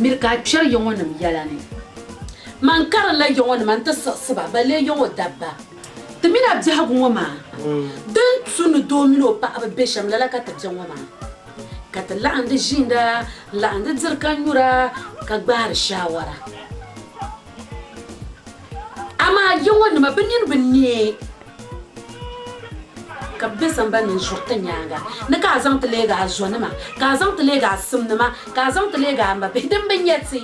Miri ka a kpɛri yɔŋɔnim yɛla ni. Man karinla yɔŋɔnima nti siɣisi ba, balee yɔŋɔ dabba. Ti mini a biɛhigu ŋɔ maa, din tu ni doo mini o paɣiba be shɛm lala ka ti be ŋɔ maa. Ka ti laɣim di ʒiinda, n-laɣim di diri ka nyura, ka gbaari shaawara. Amaa yɔŋɔnima bɛ nini bi neei. Ka bɛ be sambani ni n-zuri ti nyaaŋa ni ka a zaŋ ti leeg a zonima, ka a zaŋ ti leeg a simnima, ka a zaŋ ti leeg a mabihi din bi nya ti.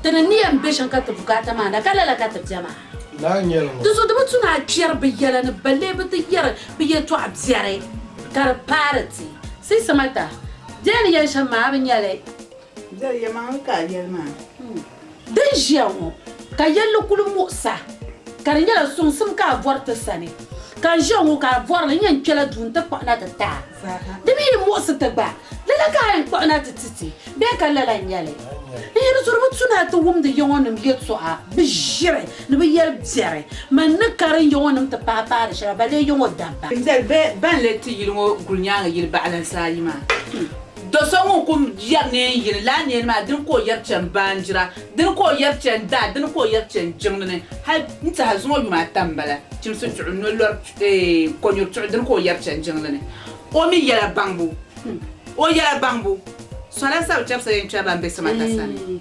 Ti ni ni yɛn be shɛm ka ti bukaata maa na, ka lala ka ti be maa. Ti zo di bi tu ni a kpɛri bɛ yɛla ni balle bɛ ti yɛri bɛ yɛtɔɣ biɛri, ka di paari ti. Sisimata, di yɛn ni yɛli shɛm maa, a bi nya li. Dali yɛlimaŋli ka a yɛli maa. Din ʒiya ŋɔ, ka yɛlli kul muɣisa, ka di nyɛla suŋsim ka a bɔri ti sani. Ka n ʒiya ŋɔ ka a bɔri li, n yɛn kpɛla duu nti kpuɣi na ti ti a. Di mi yi muɣisi ti gba, lala ka a yɛn kpuɣi na ti ti ti, bee ka lala n-nyɛ li? N yɛn zuri bi tu ni a ti wumdi yɔŋɔnim yɛtɔɣa, bi ʒiri ni bi yɛli biɛri. Mani ni karin yɔŋɔnim ti paai paai di shɛba, balee yɔŋɔ dabba. Dali bɛ ban leei ti yili ŋɔ guli nyaaŋa yili baɣilansi ayi maa. Do so ŋun kum yɛri neen yini, lala neen maa dini ka o yɛri chani baanjira, dini ka o yɛri chani daa, dini ka o yɛri chani jiŋli ni, hal n-tiɛha zuŋɔ yuma ata m-bala, chimsi chuɣu, no lɔri chuɣu, kɔnyuri chuɣu, dini ka o yɛri chani jiŋli ni. O mi yɛla baŋbu, o yɛla baŋbu, sɔla sabi chɛbisa yɛn kpɛri ba m-be Samata sani.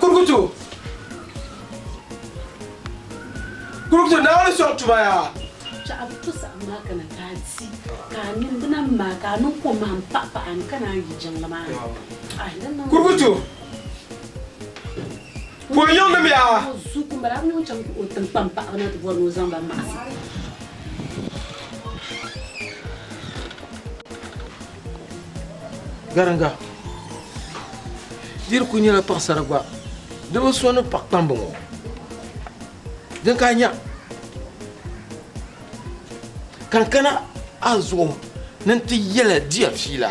Kurukutu kurukutu na wani sɔŋ tuma yaa. Chaɣa bi to saɣim maa kana ka a ti ka a mini bina maa ka a niŋ kom maa n paɣi paɣa n kana a yi jiŋli maa ni. Kurukutu. Ka o yiŋdimiya. O zu ku m-bala, a bi ni o chaŋ ti o tiŋkpam paɣiba na ti bɔri ni o zaŋ ba maɣisi. Gariŋga, di di kul nyɛla paɣisara gba di bi so ni paɣ kpamba ŋɔ. Din ka a nya ka n kana a zuɣu ni n ti yɛli diya fiila.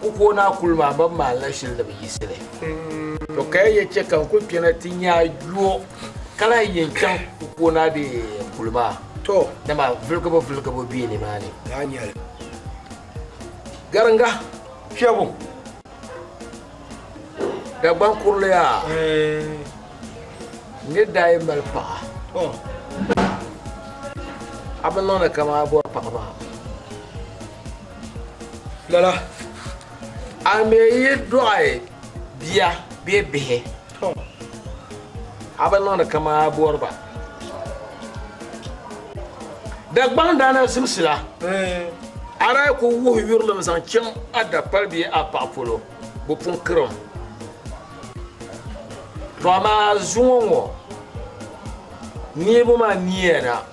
Ku ka o ni a kuli maa, bɛ bi maan la shili ni bɛ yiɣisi li. Tɔ ka ya yɛn chɛ ka n kul kpɛna ti nya a yɔɔ, ka lahi yɛn chaŋ ku ka o ni a be kuli maa, dama vuligibu vuligibu be nimaani. Gariŋga kpiɛbu, Dagbaŋ kurili a, n ni daa yɛn mali paɣa, a bi niŋdi kaman a bɔri paɣa maa. Lala, a mi yi dɔɣi bia bee bihi, a bi niŋdi kaman a bɔri ba. Dagbaŋ daa na zimsila, a daa ku wuhi yurilim zaŋ chaŋ a dakpal bee a paɣa polo, bi pun kirim. Tɔ amaa zuŋɔ ŋɔ, neebu maa niya na.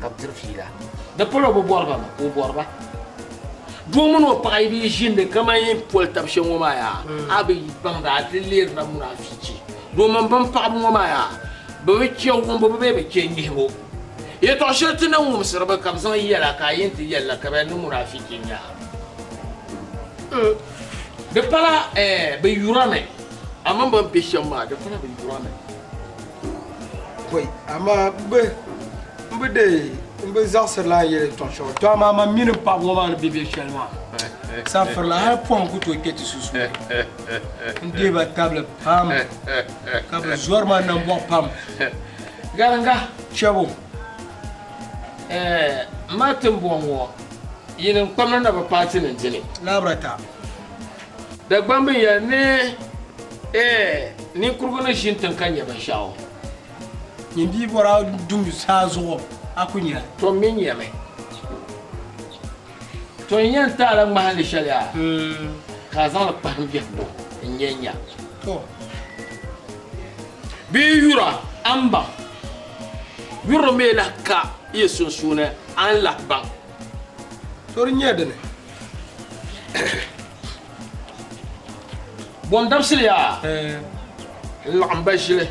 ka bɛ diri fiila. Di pala o bi bɔri ba mi ka o bɔri ba. Doo mini o paɣa yi bi yi ʒiindi kaman yin poli tab shɛm ŋɔ maa yaa, a bi yi baŋ di a di leeri la mura afiichi. Doo mini bɛn paɣibu ŋɔ maa yaa, bɛ bi chɛ wumbubu bee bɛ chɛ nyihibu. Yɛtɔɣ shɛli ti ni wumsiri ba ka bɛ zaŋ yɛl a ka a yɛn ti yɛli la ka bɛ ni mura afiichi n-nyɛ a. Di pala bɛ yurɔmi, a mini bɛn be shɛm maa, di pala bɛ yurɔmi. bɔi amaa m bi m bi dee m bi zaɣisiri lan yɛli tɔɣ shɛli to amaa man mini m paɣiba ŋɔ maa ni be be shɛli maa safiri la hali pɔhim ku tooi kpe ti sunsuuni n deei ba tabili pam ka bɛ zɔri ma nambɔɣu pam gariŋga chɛbu m ma timbɔŋ ŋɔ yini n-kpamna na bi paati ni n-dini labirata Dagbamb n yɛli ni, Ɛɛ, ninkurigu ni ʒi n-tiŋ ka nya binshɛɣu. Nyin bia bɔra dum saa zuɣu, a ku nya li. To mi nyami. To n yɛn taala ŋmahinli shɛli a, ka a zaŋ li kpahim biɛhigu n-nyɛ nya. To. Bee yura a ni baŋ? Yuri mi lahi ka yi sunsuuni a ni lahi baŋ. To di nyɛ dini? Bɔn dabisili yaa eh. n laɣim ba ʒili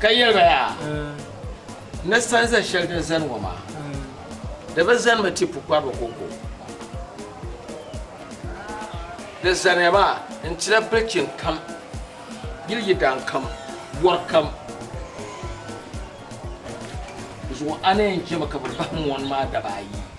ka yɛli ba yaa eh. ni sanza shɛli din zani ŋɔ maa eh. di bi zanimi ti pukpariba koko di zaniya maa n tila bilichin kam yili yidan kam bɔri kam zuɣu a ni yɛn chɛmi ka bi bahi mɔni maa daba ayi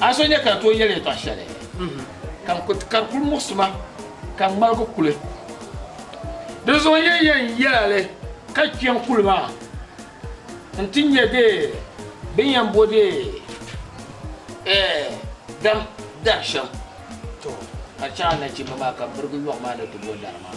A so nya ka n tooi yɛli yɛtɔɣ shɛli, ka n kuli ti kari kul muɣisi ma, ka n ŋmaligi kuli. Di zuɣu n lee yɛn yɛla li ka kpiɛm kuli maa nti nya dee bɛ ni yɛn bɔdi dam dari shɛm. Tɔ! Ka chaŋ a nachimba maa ka m mirigi yɔɣu maa ni ti bo dari maa.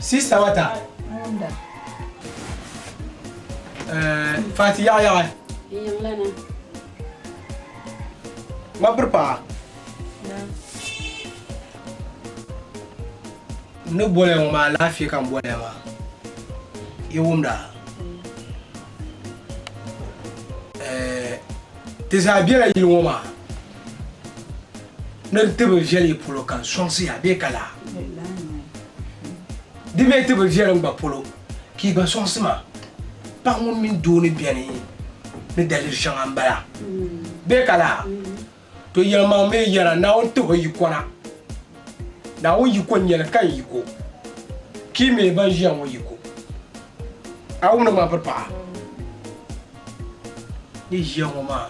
Sista wata. Fati yaɣa yaɣa. Ŋmabiri paɣa. Ni boliya ŋɔ maa laafee ka n boliya maa yi wumda ti zaa bela yili ŋɔ maa Ni di tibili viɛli yi polo ka n sɔŋsi ya bee ka lahi di mi tibili viɛli n gba polo ka yi gba sɔŋsi ma, paɣ ŋun mini doo ni beni ni daliri shɛŋa m-bala bee ka lahi? To yɛlimaŋ mi yɛra Naawuni tih o yiko na. Naawuni yiko n-nyɛ li ka n yiko ka yi mi ban ʒiya ŋɔ yiko. A wumdi ma biri paɣa? ni ʒiya ŋɔ maa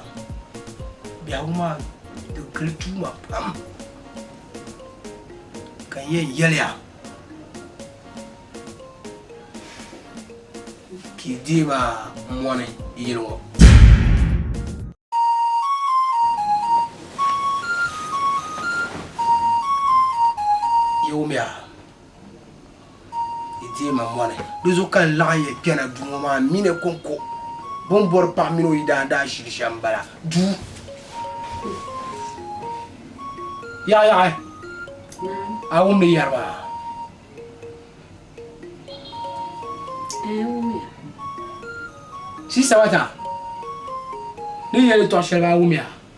biɛhigu maa di gili tuuma pam ka n yɛn yɛliya ka yi deei maa mɔni yili ŋɔ yawumiya Yi deei ma moli. Di zuɣu ka n laɣim ya kpɛna duu ŋɔ maa mi ni kɔŋko. Bɛ ni bɔri paɣa mini o yidana daashili shɛm m-bala. Duu! Yaɣiyaɣi! A wumdi yɛri maa? Ɛɛn n wumiya. Siista Mata, ni ni yɛli yɛltɔɣ shɛli maa a wumiya?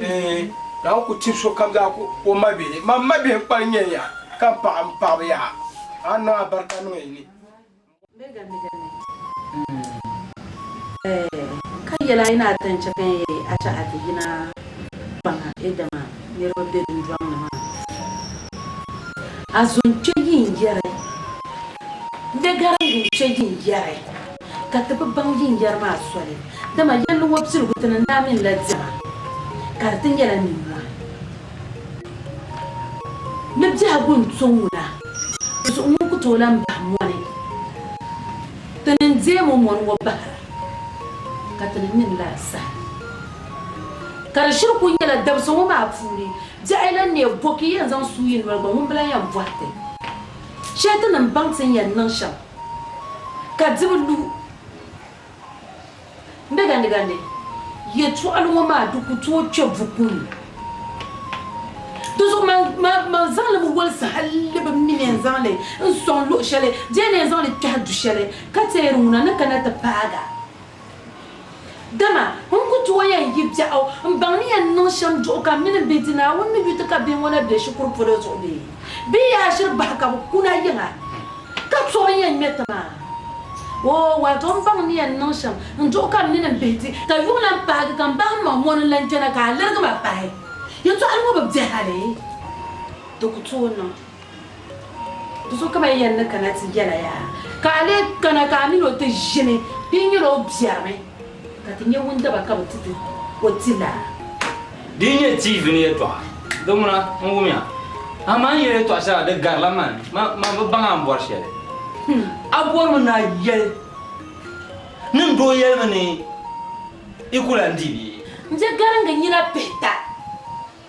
Bee, Naawuni ku tib sokam zaa ka o mabihi. Mam mabihi n-kpa n-nyɛ ya, ka m paɣ m paɣiba yaha, a ni niŋ alibarika niŋ yi ni. Ka yɛl a yi ni a ti ni chɛ ka n yɛli a chɛ a ti yina kpaŋa Ɛdama niriba be dundɔŋ ni maa, a zo n-kpe yi n-yɛri, m be gari n-gu n-kpe yi n-yɛri. ka ti bi baŋ yin yɛri maa soli, dama yɛlli ŋɔ piligu ti ni naai minila diɛma, ka di ti nyɛla nimmɔhi ni biɛhigu n-to ŋuna, di zuɣu ŋun ku tooi lan bahi mɔni, ti ni n-deem o mɔni ŋɔ bahira, ka ti ni nini laa saha. Ka di shiri kul nyɛla dabisa ŋɔ maa puuni biɛɣu yi lan neei bo ka yi yɛn zaŋ suui yi noli gba, ŋun bi lan yɛn bɔhi ti shɛli ti ni baŋ ti ni yɛn niŋ shɛm. ka di bi lu ni gandigandi yɛtɔɣili ŋɔ maa di ku tooi kpe buku ni. Di zuɣu man zaŋ li mi walisi hali bɛ mi ni yɛn zaŋ li n-sɔŋ luɣ shɛli di yɛn ni yɛn zaŋ li kpɛhi du shɛli ka teeri ŋuna ni kana ti paag a. Dama n ku tuo ya n yi biɛɣu m-baŋ ni ya ni niŋ shɛm duɣu ka m mini m bihi di Naawuni ni yu ti ka bihi ŋɔ na be shikuru polo zuɣu bee? Bɛ yaa ʒiri bahi ka bɛ kuna yiŋa, ka tɔri ya ŋme ti ma? Oo, waato m baŋ ni ya ni niŋ shɛm n duɣu ka m mini m bihi di, ka yuŋ lan paagi ka m bahi ma ŋɔ ni lan chana ka a lirigi ma pahi, yɛtɔɣili ŋɔ bi bɛ hali, di ku tooi niŋ. Ti so kam a yɛn ni kana ti yɛla yaa, ka a lee kana ka a min o ti ʒini, di yi nyɛla o biɛrimi, ka ti nyɛ wundaba ka bi ti ti o ti laa. Di yi nyɛ TV ni yɛtɔɣa, di ŋuna n-wumiya. Amaa n yɛli yɛtɔɣ shɛli a di garila man, man bi baŋ a ni bɔri shɛli. A bɔrimi ni a yɛli ni n doo yɛlimi ni i ku lan di bee? N je garingi nyina pihita.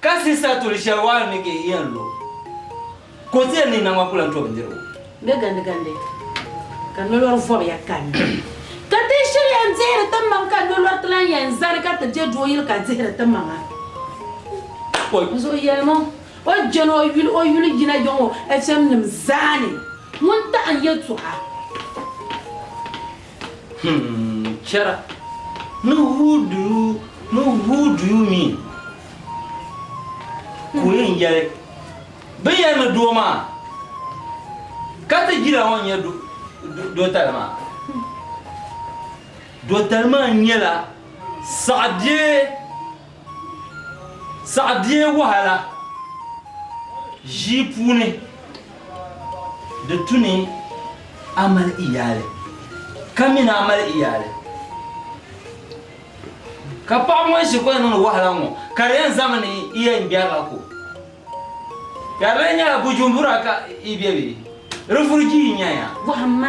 Ka sista tuli shɛli waa n ni ka yi yɛn lo, ka o ti yɛn niŋ naŋ maa ku lan to bindirigu. Bɛ gandigandi, ka nolori vɔbiya kanna. Ka ti shiri yɛn dihiri ti maŋ, ka nolori ti lan yɛn zani ka ti je dooyili ka dihiri ti maŋa. Pɔi. N Zuɣu yɛlim o, o je ni o yuli o yuli yina yiŋ o HM nim zaa ni ŋun taɣi n yɛtɔɣa. Hmm, chɛra ni who do you ni who do you mean? Ka o yɛn yɛli bɛ yɛli ni doo maa ka ti jira ŋɔ nyɛ dotali maa. Dotali maa nyɛla saɣibie Saɣi bee wahala ʒii puuni di tu ni a mali iyaali ka mi ni a mali iyaali. Ka paɣaba ŋɔ shikuru yɛn niŋdi wahala ŋɔ ka di yɛn zami ni i yɛn gbɛrila ko. Ka di lee nyɛla bujumbura ka i be bee? Rifurigii n-nyɛ ya. Bɔhimma.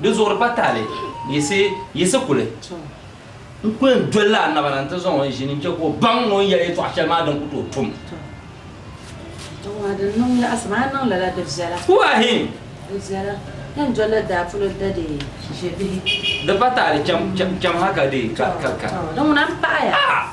Di zuɣuri pa taali yiɣisi yiɣisi kuli n kuli n doli la annaba na n ti zaŋ o ʒini n chɛ ka o baŋ ni o ni yɛli yɛtɔɣa shɛli maa din ku tooi tum. Kuwahin! Di pa taali chɛm ha ka di ka. Ah!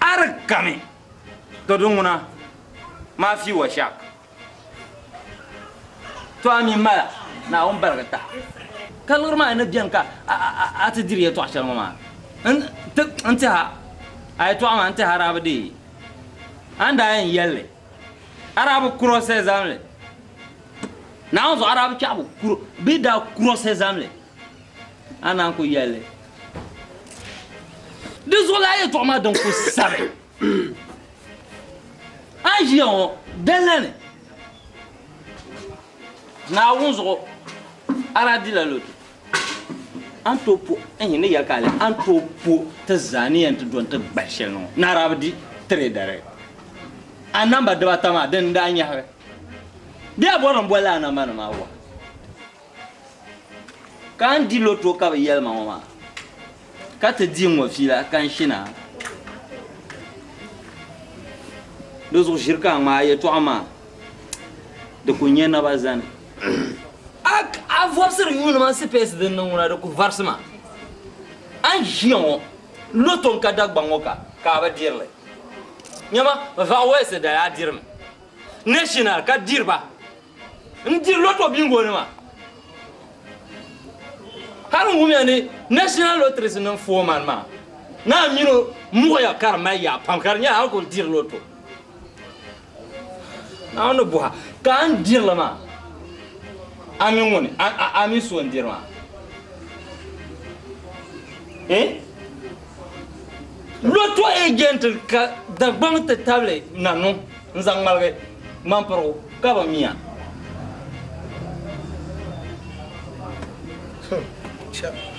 A di kami to di ŋuna maa fii wa shak. To a mi mala Naawuni baligi taha. Ka liɣiri maa ni beni ka a ti diri yɛtɔɣ shɛli ŋɔ maa, n ti ha a yɛtɔɣ maa n-ti Arabi dee. A ni daa yɛn yɛl li, Arabi kurɔsɛzamli, Naawuni zuɣu Arabi kpɛɣibu bee daa kurɔsɛzamli A naan ku yɛli di zuɣu laa yɛtɔɣa maa din ku sabi a ni ʒiya ŋɔ dala ni Naawuni zuɣu a daa dila lotu a ni tooi po n ni yɛli ka a a ni tooi po ti zaa ni yɛn ti do n-ti gbali shɛli ni ŋɔ ni a daa bi di tiri dari a namba dibaata maa din n-daa nyɛhigi bee a bɔri ni boli a namba ni maa wa. Ka n di loto ka bi yɛli ma ŋɔ maa, ka ti di n ŋɔ fiila ka n shina. Di zuɣu ʒiri ka a ŋmaai a yɛtɔɣa maa, di ku nyɛ naba zani. A a vɔbisiri yuunima sipeesi din niŋ ŋuna di ku varisi ma. A ni ʒiya ŋɔ, loto n ka Dagbaŋ ŋɔ ka, ka a bi diri li. Nyama, Vaɣawɛsi dali a dirimi. National ka diri ba. N diri loto bingo nima. Hali n wumya ni National Lotteries niŋ foreman maa naa mini o muɣiya ka di mali yaa pam ka di nyɛla a kuli diri loto. Naa ni buha ka a ni dirili maa a mi ŋuni a mi so n diri maa. Eh? Loto agent ka Dagbaŋ ti tabili na niŋ. N zaŋ ŋmaligi ŋmampirigu ka bi mi a.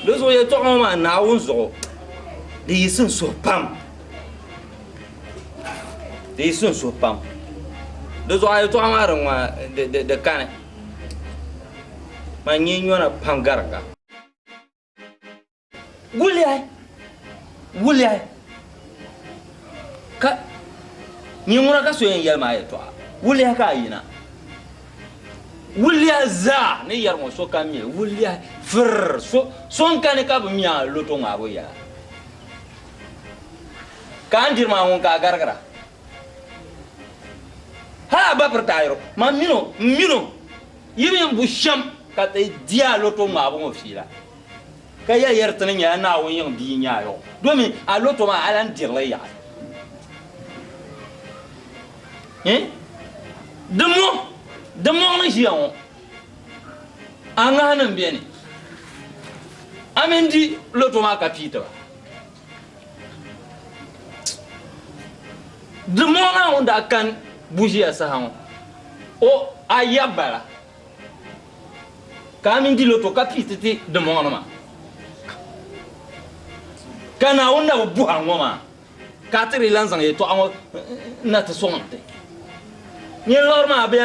Di zuɣu yɛltɔɣa ŋɔ maa Naawuni zuɣu di yiɣisi n suhi pam. Di yiɣisi n suhi pam. Di zuɣu a yɛltɔɣa maa din ŋɔ di kani. Man nyɛ nyɔna pam garinda. Wuliyahi! Wuliyahi! Ka nyin ŋuna ka so yɛn yɛli ma yɛtɔɣa, wuliyahi ka a yina. Wuliyahi zaa ni yɛri ŋɔ so ka mi, wuliyahi! Firr! So, so n-kani ka bi mi a loto ŋmaabu yɛla. Ka a ni diri maa ŋun ka a garigira? Hal a ba piri taayiro, man min o, m-min o, yi mi m-bu shɛm ka ti di a loto ŋmaabu ŋɔ fiila. Ka ya yɛri ti ni nyɛla Naawuni yiŋ bia nyaayɔɣu, domin a lɔto maa a lan diri li yaɣi. Ŋ! Di mɔɣ, di mɔɣ ni ʒiya ŋɔ, a ŋahinim bɛ ni, a mi n-di lɔto maa ka pii ti ba. Di mɔɣ Naawuni daa kani buʒiya saha ŋɔ, o a ya bala. ka a mini di lo to ka pii ti ti dimbɔŋɔnima. Ka Naawuni na bi buhi a ŋɔ maa, ka a ti dii lan zaŋ yɛtɔɣa ŋɔ na ti sɔŋ nti nyin lɔr maa, bɛ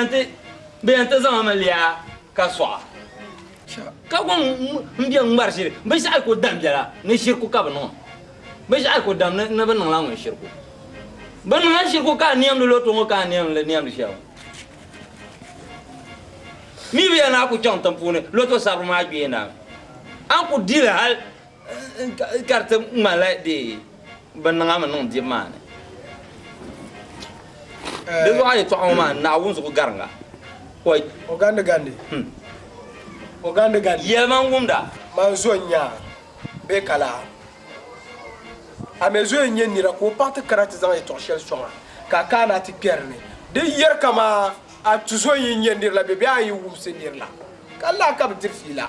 yɛn ti zaŋ mi liya ka sɔɣ a. Ka gɔŋ m-be ŋ-ŋmari ʒiri, bɛ shɛhi ku dam biɛla ni shiriku ka bɛ niŋ a. Bɛ shɛhi ku dam ni bɛ niŋla ŋun shiriku. Bɛ niŋla shiriku ka a niɛmdi lo to ŋɔ ka a niɛm li niɛmdi shɛli ŋɔ. Mibiya ni a ku chaŋ tiŋ puuni lɔto sabiri maa gbee na, a ni ku dili hal ka di ti ŋmanila dee bɛ niŋ a mi niŋ dibu maa ni. Di zuɣu a yɛtɔɣa ŋɔ maa ni naa wunzugu gariŋga. O gandi gandi. Hmm. O gandi gandi. Yɛlimaŋ wumda. Man zo n-nya bee ka lahi. A mɛ zoya n-nyɛ nira ka o paɣ ti kana ti zaŋ yɛtɔɣ shɛli sɔŋ a, ka a kaana ti kpɛri ni di yɛri kaman a tuzo yi nya nir la bɛ bee a yi wumsi nir la ka lahi ka bɛ diri fiila.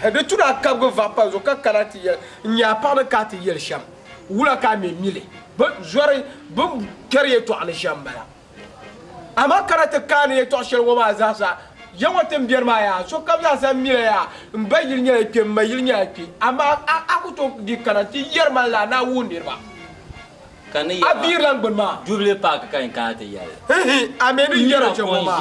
Hɛ di tuna a kabigi vahi pa n zuɣu ka kana ti yɛli n nya a paɣ ni ka a ti yɛli shɛm, wula ka a mɛ mi li? Bɛ zɔri bɛ ni kpɛri yɛtɔɣ ni shɛm m-bala. Amaa ka na ti kaani yɛtɔɣ shɛli ŋɔ maa zaasa, Yawɛ ti ni biɛri maa yaa, sokam zaasa mila yaa, m ba yili nyɛla kpe, m ma yili nyɛla kpe, amaa a, a ku tooi di kana nti yɛri ma lala ni a wuhi niriba a biir lan gbini maa. Jubili paaki ka n kana ti yɛli. Hihi, a mi ni yɛri chɛ ŋɔ maa,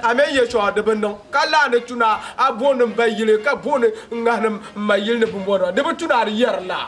a mi ni yɛ shɛŋa di bi niŋ, ka lahi ni tu ni a, a booni m ba yili, ka booni n ŋahini m ma yili ni bimbɔrima, di bi tu ni a di yɛri lala.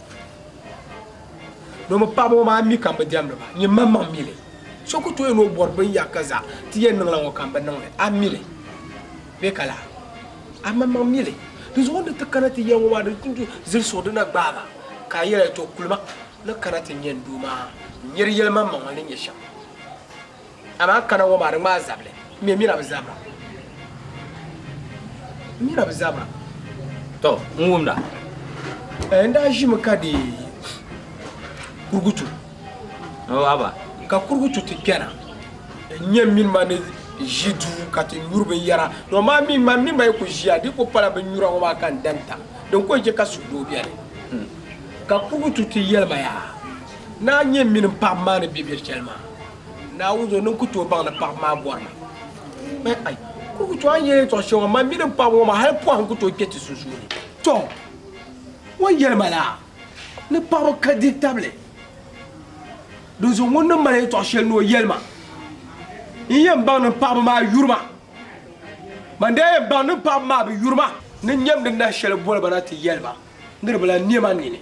Do mi paɣaba ŋɔ maa mi ka m bi diɛmdi ba nyin maŋmaŋ mi li. So ku tooi ni o bɔri binyɛr ka zaɣ ti yɛn niŋla ŋɔ ka m bi niŋ li, a mi li bee ka laa? A maŋmaŋ mi li. Dinzuɣu n ni ti kana ti yɛn ŋɔ maa di ni zili suɣu di na gbaai ma ka a yɛli, Tɔ! Kuli ma ni kana ti nyɛ n doo maa n nyari yɛlimaŋmaŋ ni nyɛ shɛm. Amaa kana ŋɔ maa di ŋmaai zabili ŋmɛ mira bi zabira mira bi zabira. Tɔ n wumda. N daa ʒimi ka deei kurugutu. O haba. Ka kurugutu ti kpɛna n nya m mini ma ni ʒi duu ka ti nyuri binyɛra. Dɔn maa mi ma mini ma yi ku ʒiya di ku pala binnyura ŋɔ maa ka n dan tam din ku n-chɛ ka suhudoo beni. Ka kurugutu ti yɛli ma yaa, Naa nyɛ m mini m paɣiba maa ni be biri chali maa. Naawuni zo ni n ku tooi baŋ ni paɣaba maa bɔri ma. Bɛ ai, kurugu tɔ a ni yɛn yɛltɔɣ shɛŋa ŋɔ, man mi din paɣaba ŋɔ maa hali pɔhim ku tooi kpe ti sunsuuni. Tɔ! Ŋun yɛli ma la, ni paɣaba ka di tabili, dinzuɣu ŋuni ni mali yɛltɔɣ shɛli ni o yɛli ma? N yɛn baŋ ni paɣaba maa yuri ma. Man daa yɛn baŋ ni paɣaba maa bi yuri ma. Ni n nyamdi nahi shɛli boli ba na ti yɛli ba, Niriba la, nɛma nini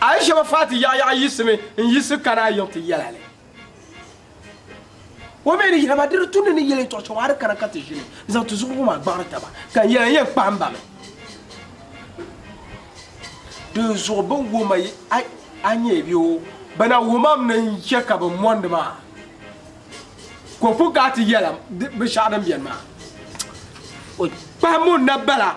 Ayishɔfati yaɣiyaɣi yiɣisimi n-yiɣisi kana a yiŋ ti yɛla li. O mi ni yɛli ma, Di di tumdi ni yɛli n tɔɣu chɛwa a di kana ka ti ʒini n-zaŋ ti zuɣubu maa gbaɣiri taba, ka n yɛli a yɛn kpahim ba mi. Dinzuɣu bɛ ni wum a nyɛ bɛ o, bɛ na wumam ni n chɛ ka bɛ mɔndi ma a. Kopu ka a ti yɛla binshɛɣu din beni maa? O kpahimbu n-na bala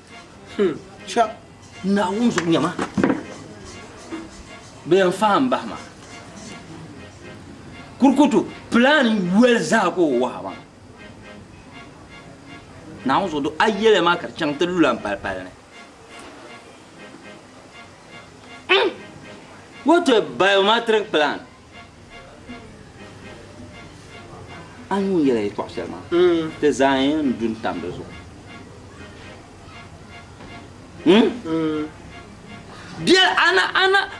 Hmm, cha naa wum zuɣu nyɛma bɛ yɛn fahi n bahi ma kurikutu plan yoli zaa ka o wahi ma naa wum zuɣu do a yɛlɛ maa ka di chaŋ ti lula n palipali ni hmm, what a biometric plan A ni ŋun yɛla yɛtɔɣ shɛli maa, ti zaa yɛn du n-tam di zuɣu. Biɛl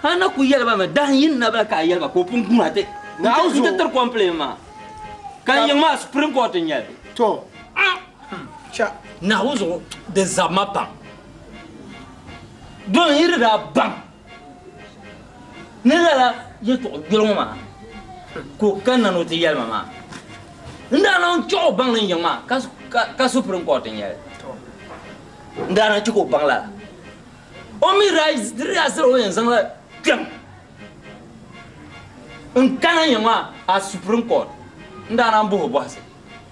a na ku yɛli ba mi, dahin yi ni na bala ka a yɛli ba ka o pun guura ti n-ti tiri kɔmpileen maa, ka n yiŋ maa Supreme Court n-nyɛ li. Tɔ! Cha! Naawuni zuɣu di zabi ma pam. Domin yi di daa baŋ. Ni lala yɛtɔɣ gbɛri ŋɔ maa ka o kanna ni o ti yɛli ma maa, n daa lan chɛɣ o baŋ ni n yiŋ maa ka Supreme Court n-nyɛ li. N daa lan chɛ ka o baŋ lala. O mi daa diri daa sal o yɛn zaŋla kpɛm n-kana n yiŋ maa a Supreme Court. N daa lan bɔh o bɔhisi.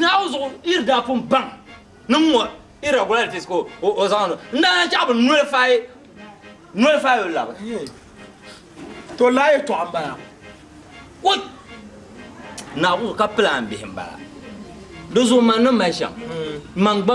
Naawuni zuɣu yiri daa pun baŋ ni ŋ-ŋɔ irregularities ka o zaŋ niŋ. N daa lan chaɣ bi nullify nullify o lab. To laa yɛtɔɣa m-bala. Ko Naawuni zuɣu ka plan bihi m-bala. Di zuɣu man ni mali shɛm. Man gba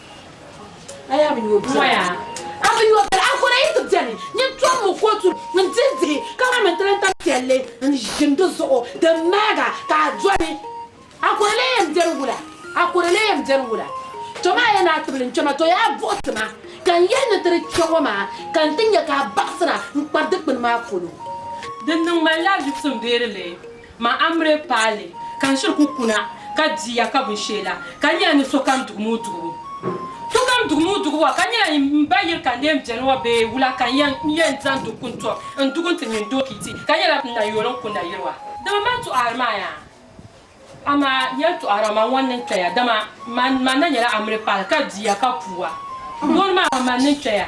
A yaa bi nyuo bia. A bi nyuo bia. Ankora yi ti beni nyin tom mi kootu n dihi dihi ka ŋan mi n ti lan tam piɛlli n ʒim di zuɣu din mahiga ka a doli. Ankora lee yɛn beni wula? Ankora lee yɛn beni wula? To maa ya naa tibili n kpema to yaa buɣi ti ma ka n yɛli ni ti di kpe ŋɔ maa ka n ti nya ka a baɣisira n kpari dikpini maa polo. Dinni ŋmanila visim beerili. Ma Amre paali ka n shiri ku kuna ka di ya ka binshee la ka nyɛla ni sokam dugi moo dugibu. Sokam dugi moo dugibu a ka nyɛla ni m ba yili ka n leen beni wa bee wula ka n yɛn zaŋ dug ku n-tɔb n dugi n-ti mini dooki ti ka nyɛla n na yooli n ku nayili wa. Dama man tɔɣiri ma ya, amaa n yɛn tɔɣiri a ma ŋɔ n ni kpe ya, dama man na nyɛla Amre paali ka di ya ka puu a. Yooli ma a ma man ni n kpe ya.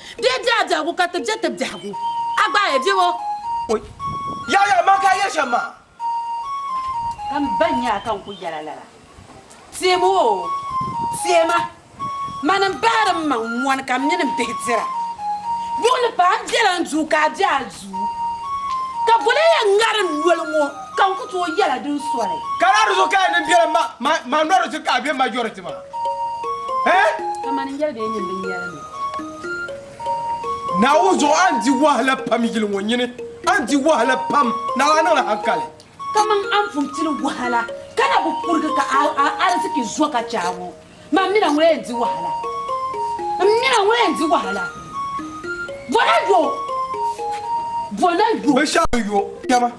Di yi di a biɛhigu ka ti je ti biɛhigu, a gbaai a biɛbo. O Yaa yaa ma ka a yɛli shɛm maa. Ka m ba nya a ka n ku yɛl a lala. Teem o, teem a. Man n bahiri m maŋ mɔni ka m mini m bihi dira. Luɣili paa n bela n duu ka a be a duu. Ka boli n yɛn ŋari n noli ŋɔ ka n ku tooi yɛl a din soli. Ka laa di zuɣu ka a nini bela m ma noli zuɣu ka a be majority maa? Hee? Ka man n yɛli ba yi nini binyɛrini. Naawuni zuɣu a ni di wahala pam yili ŋɔ nyini, a ni di wahala pam, naɣila a niŋla hankali. Kaman a ni pun pili wahala ka na bi kurigi ka a ariziki zo ka chɛ a ŋɔ, man mina ŋun yɛn di wahala, m mina ŋun yɛn di wahala, bɔna yo, bɔna yo. Binshɛɣu yo kpɛma,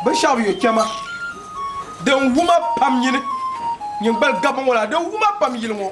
binshɛɣu yo kpɛma, din wum a pam nyini, nyin gbali gabi ŋɔ la, din wum a pam yili ŋɔ.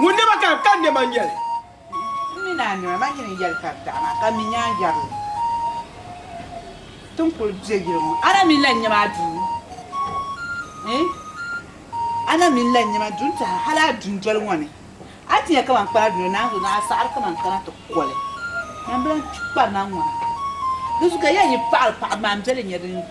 Ŋun ni ma kani, ka n nɛma n-nyɛ li. M mi ni a nɛma, ma nyin n-yɛli ka di daɣi ma, ka m mi nyaanjɛri la ti ni kul be yili ŋɔ. A na mi lan nyɛ ma a duu, ɛɛn, a na mi lan nyɛ ma duu n-tɛha hal a dundoli ŋɔ ni. A ti nya kaman kpana dundoli naanzu ni a saɣiri kaman kana ti ko li. Nyambila n-kpi kpana ŋɔ na. Dinzuɣu ka ya yi paɣiri paɣibu maa m-be li nyɛ din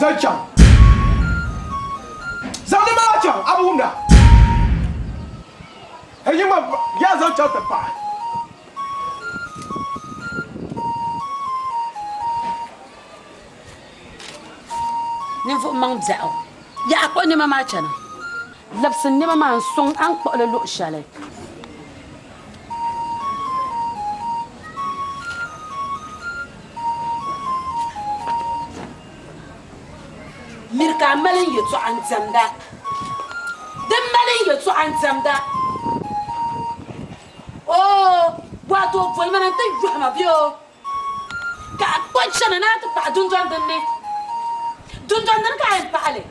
Zali chaŋ. Zaŋ di maa chaŋ, a bi wumda. Ka yi ma yaa zaŋ chaŋ ti paɣa. Ninvuɣ maŋ biɛɣu, yaɣ a kpuɣi nɛma maa chana. Labisi n nɛma maa n-sɔŋ a ni kpuɣi li luɣ shɛli. Miri ka a mali n yɛtɔɣa n-diɛmda. Di m mali n yɛtɔɣa n-diɛmda. Oo, bɔatoo boli ma na nti yɔhi ma bee oo. Ka a kpuɣi chana ni a ti paɣi dundoli din ni. Dundoli dini ka a yɛn paɣi li?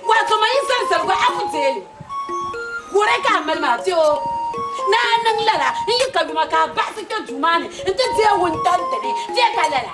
Waato man yi zali zaligu a ku deei li. Wuhiri ka a mali ma bee oo? Ni a niŋ lala, n yi ka yuma ka a baɣisi kpe duu maa ni nti deei wuntaŋ dini. Bee ka lala?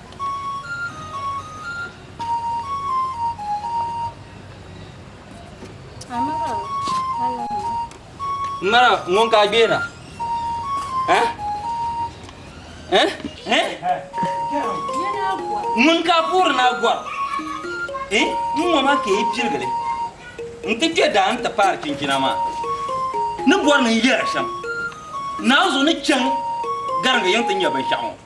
Mara ŋun ka gbera. Eh? Eh? Eh? Ŋun ka puri na gwa. Eh? Ŋun ŋɔ ma ke piligili. N ti kpe daa n ti paari chinchina maa. Ni bɔri ni n yɛra shɛm. Naawuni zuɣu ni chaŋ garinga yiŋ ti nya binshɛɣu ŋɔ.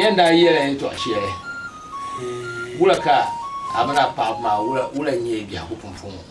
yɛn daa yɛla yɛn tɔɣa shɛli wula ka a mini a paɣaba maa wula n-nyɛ biɛhigu pumpɔŋɔ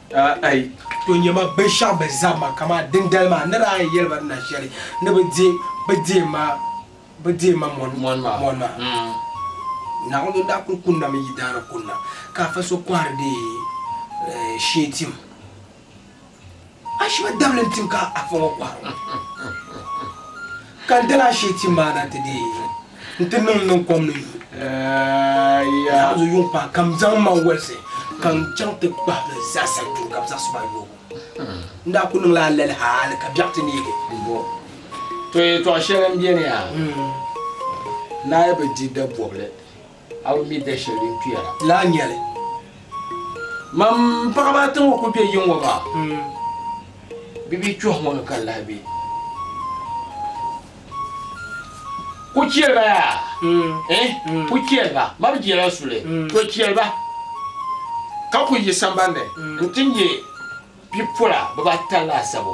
Aai, to nya ma binshɛɣu bɛ zaŋ ma kaman dindali maa ni daa yɛli ba ni na shɛli ni bɛ di bɛ deei ma bɛ deei ma mɔni mɔni maa. Naawuni ni daa kul kunnami yi daana kunna, ka afa so kɔhiri di shee tim. Ashiba dabili n-tim ka afa ŋɔ kɔhiri ŋɔ. Ka n dala ashee ti maa na nti deei ya nti niŋ niŋ kom ni yuun zaɣimzu yuŋ paai ka m zaŋ ma walisi ka n chaŋ ti kpahi bɛ zaasa duu ka bɛ zaɣisi ma yoobu. N daa kul niŋla alali hali ka biɛɣu ti neegi. Bɔ to yɛtɔɣ shɛli m-beni a, n naai bi di dabɔbili. A bi mi da shɛli din kpiya la. Lahi nya li. Mam paɣiba ata ŋɔ kul be yiŋŋɔ maa, bɛ bi kpɛhi ŋɔ ni ka n lahi be. Ku chɛli ba yaa! Eh! Ku chɛli ba! Ma bi jela suli, to chɛli ba! Ka ku yi sambani nti nya bipola bibata laasabu.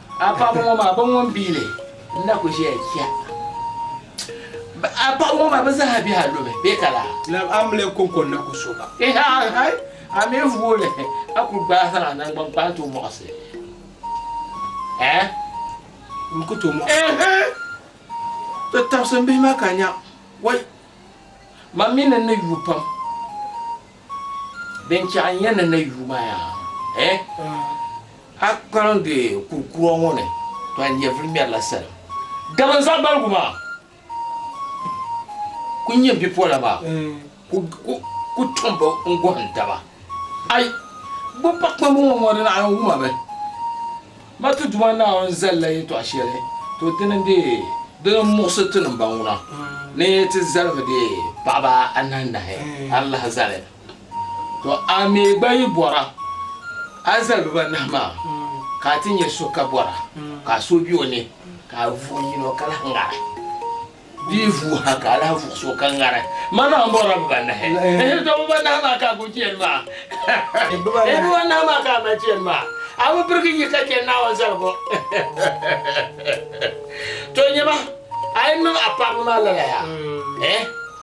A paɣaba ŋɔ maa, bɛ ŋun biili n-na ku ʒiya chɛ a paɣaba ŋɔ maa, bɛ zaa bihi a lubi bee ka laa? Lab a mili kɔŋko n-na ku so ba. Ehe aai! A mi vuuli a ku gbaai zaŋ a naŋgban kpaai tooi mɔɣisi eh? N ku tooi mɔɣisi. Ehe! Ti tabisi m bihi maa ka nya. Wai! Mam mi ni ni yuui pam. Binchɛɣu n-yɛn ni na yuui maa yaa eh! A kpaŋdi kurikura ŋɔ ni tɔhi nyɛvili ŋmɛrila salim. Dama n zaɣ baligu maa ku nyɛ bipola maa ku tɔmbu n-gɔhim taba. Ai! Bɛ pa kpamba ŋɔ mɔri Naawuni wuma bɛ? Ma ti Duuma Naawuni zalila yɛtɔɣ shɛli, to dini n-deei dini m-muɣisi ti nimbaŋuna ni ti zalimi deei paɣiba anahinahi alahi zali. To a mi gba yi bɔra a zalibiba anahi maa, ka a ti nya so ka bɔra ka a suhu be o ni, ka a vuhi yino ka lahi ŋari. Di yi vuui ha ka a lahi vuɣisi o ka ŋari, Mana m bɔrila bibanahi. Ehe, tɔ bibanahi maa ka a gbubi chɛni maa. Ehe, bibanahi maa ka a mali chɛni maa. A bi birigi nyi ka chɛ Naawuni zaligu. Tɔ nyama, a yi niŋ a paɣiba maa lala yaa? Ehe.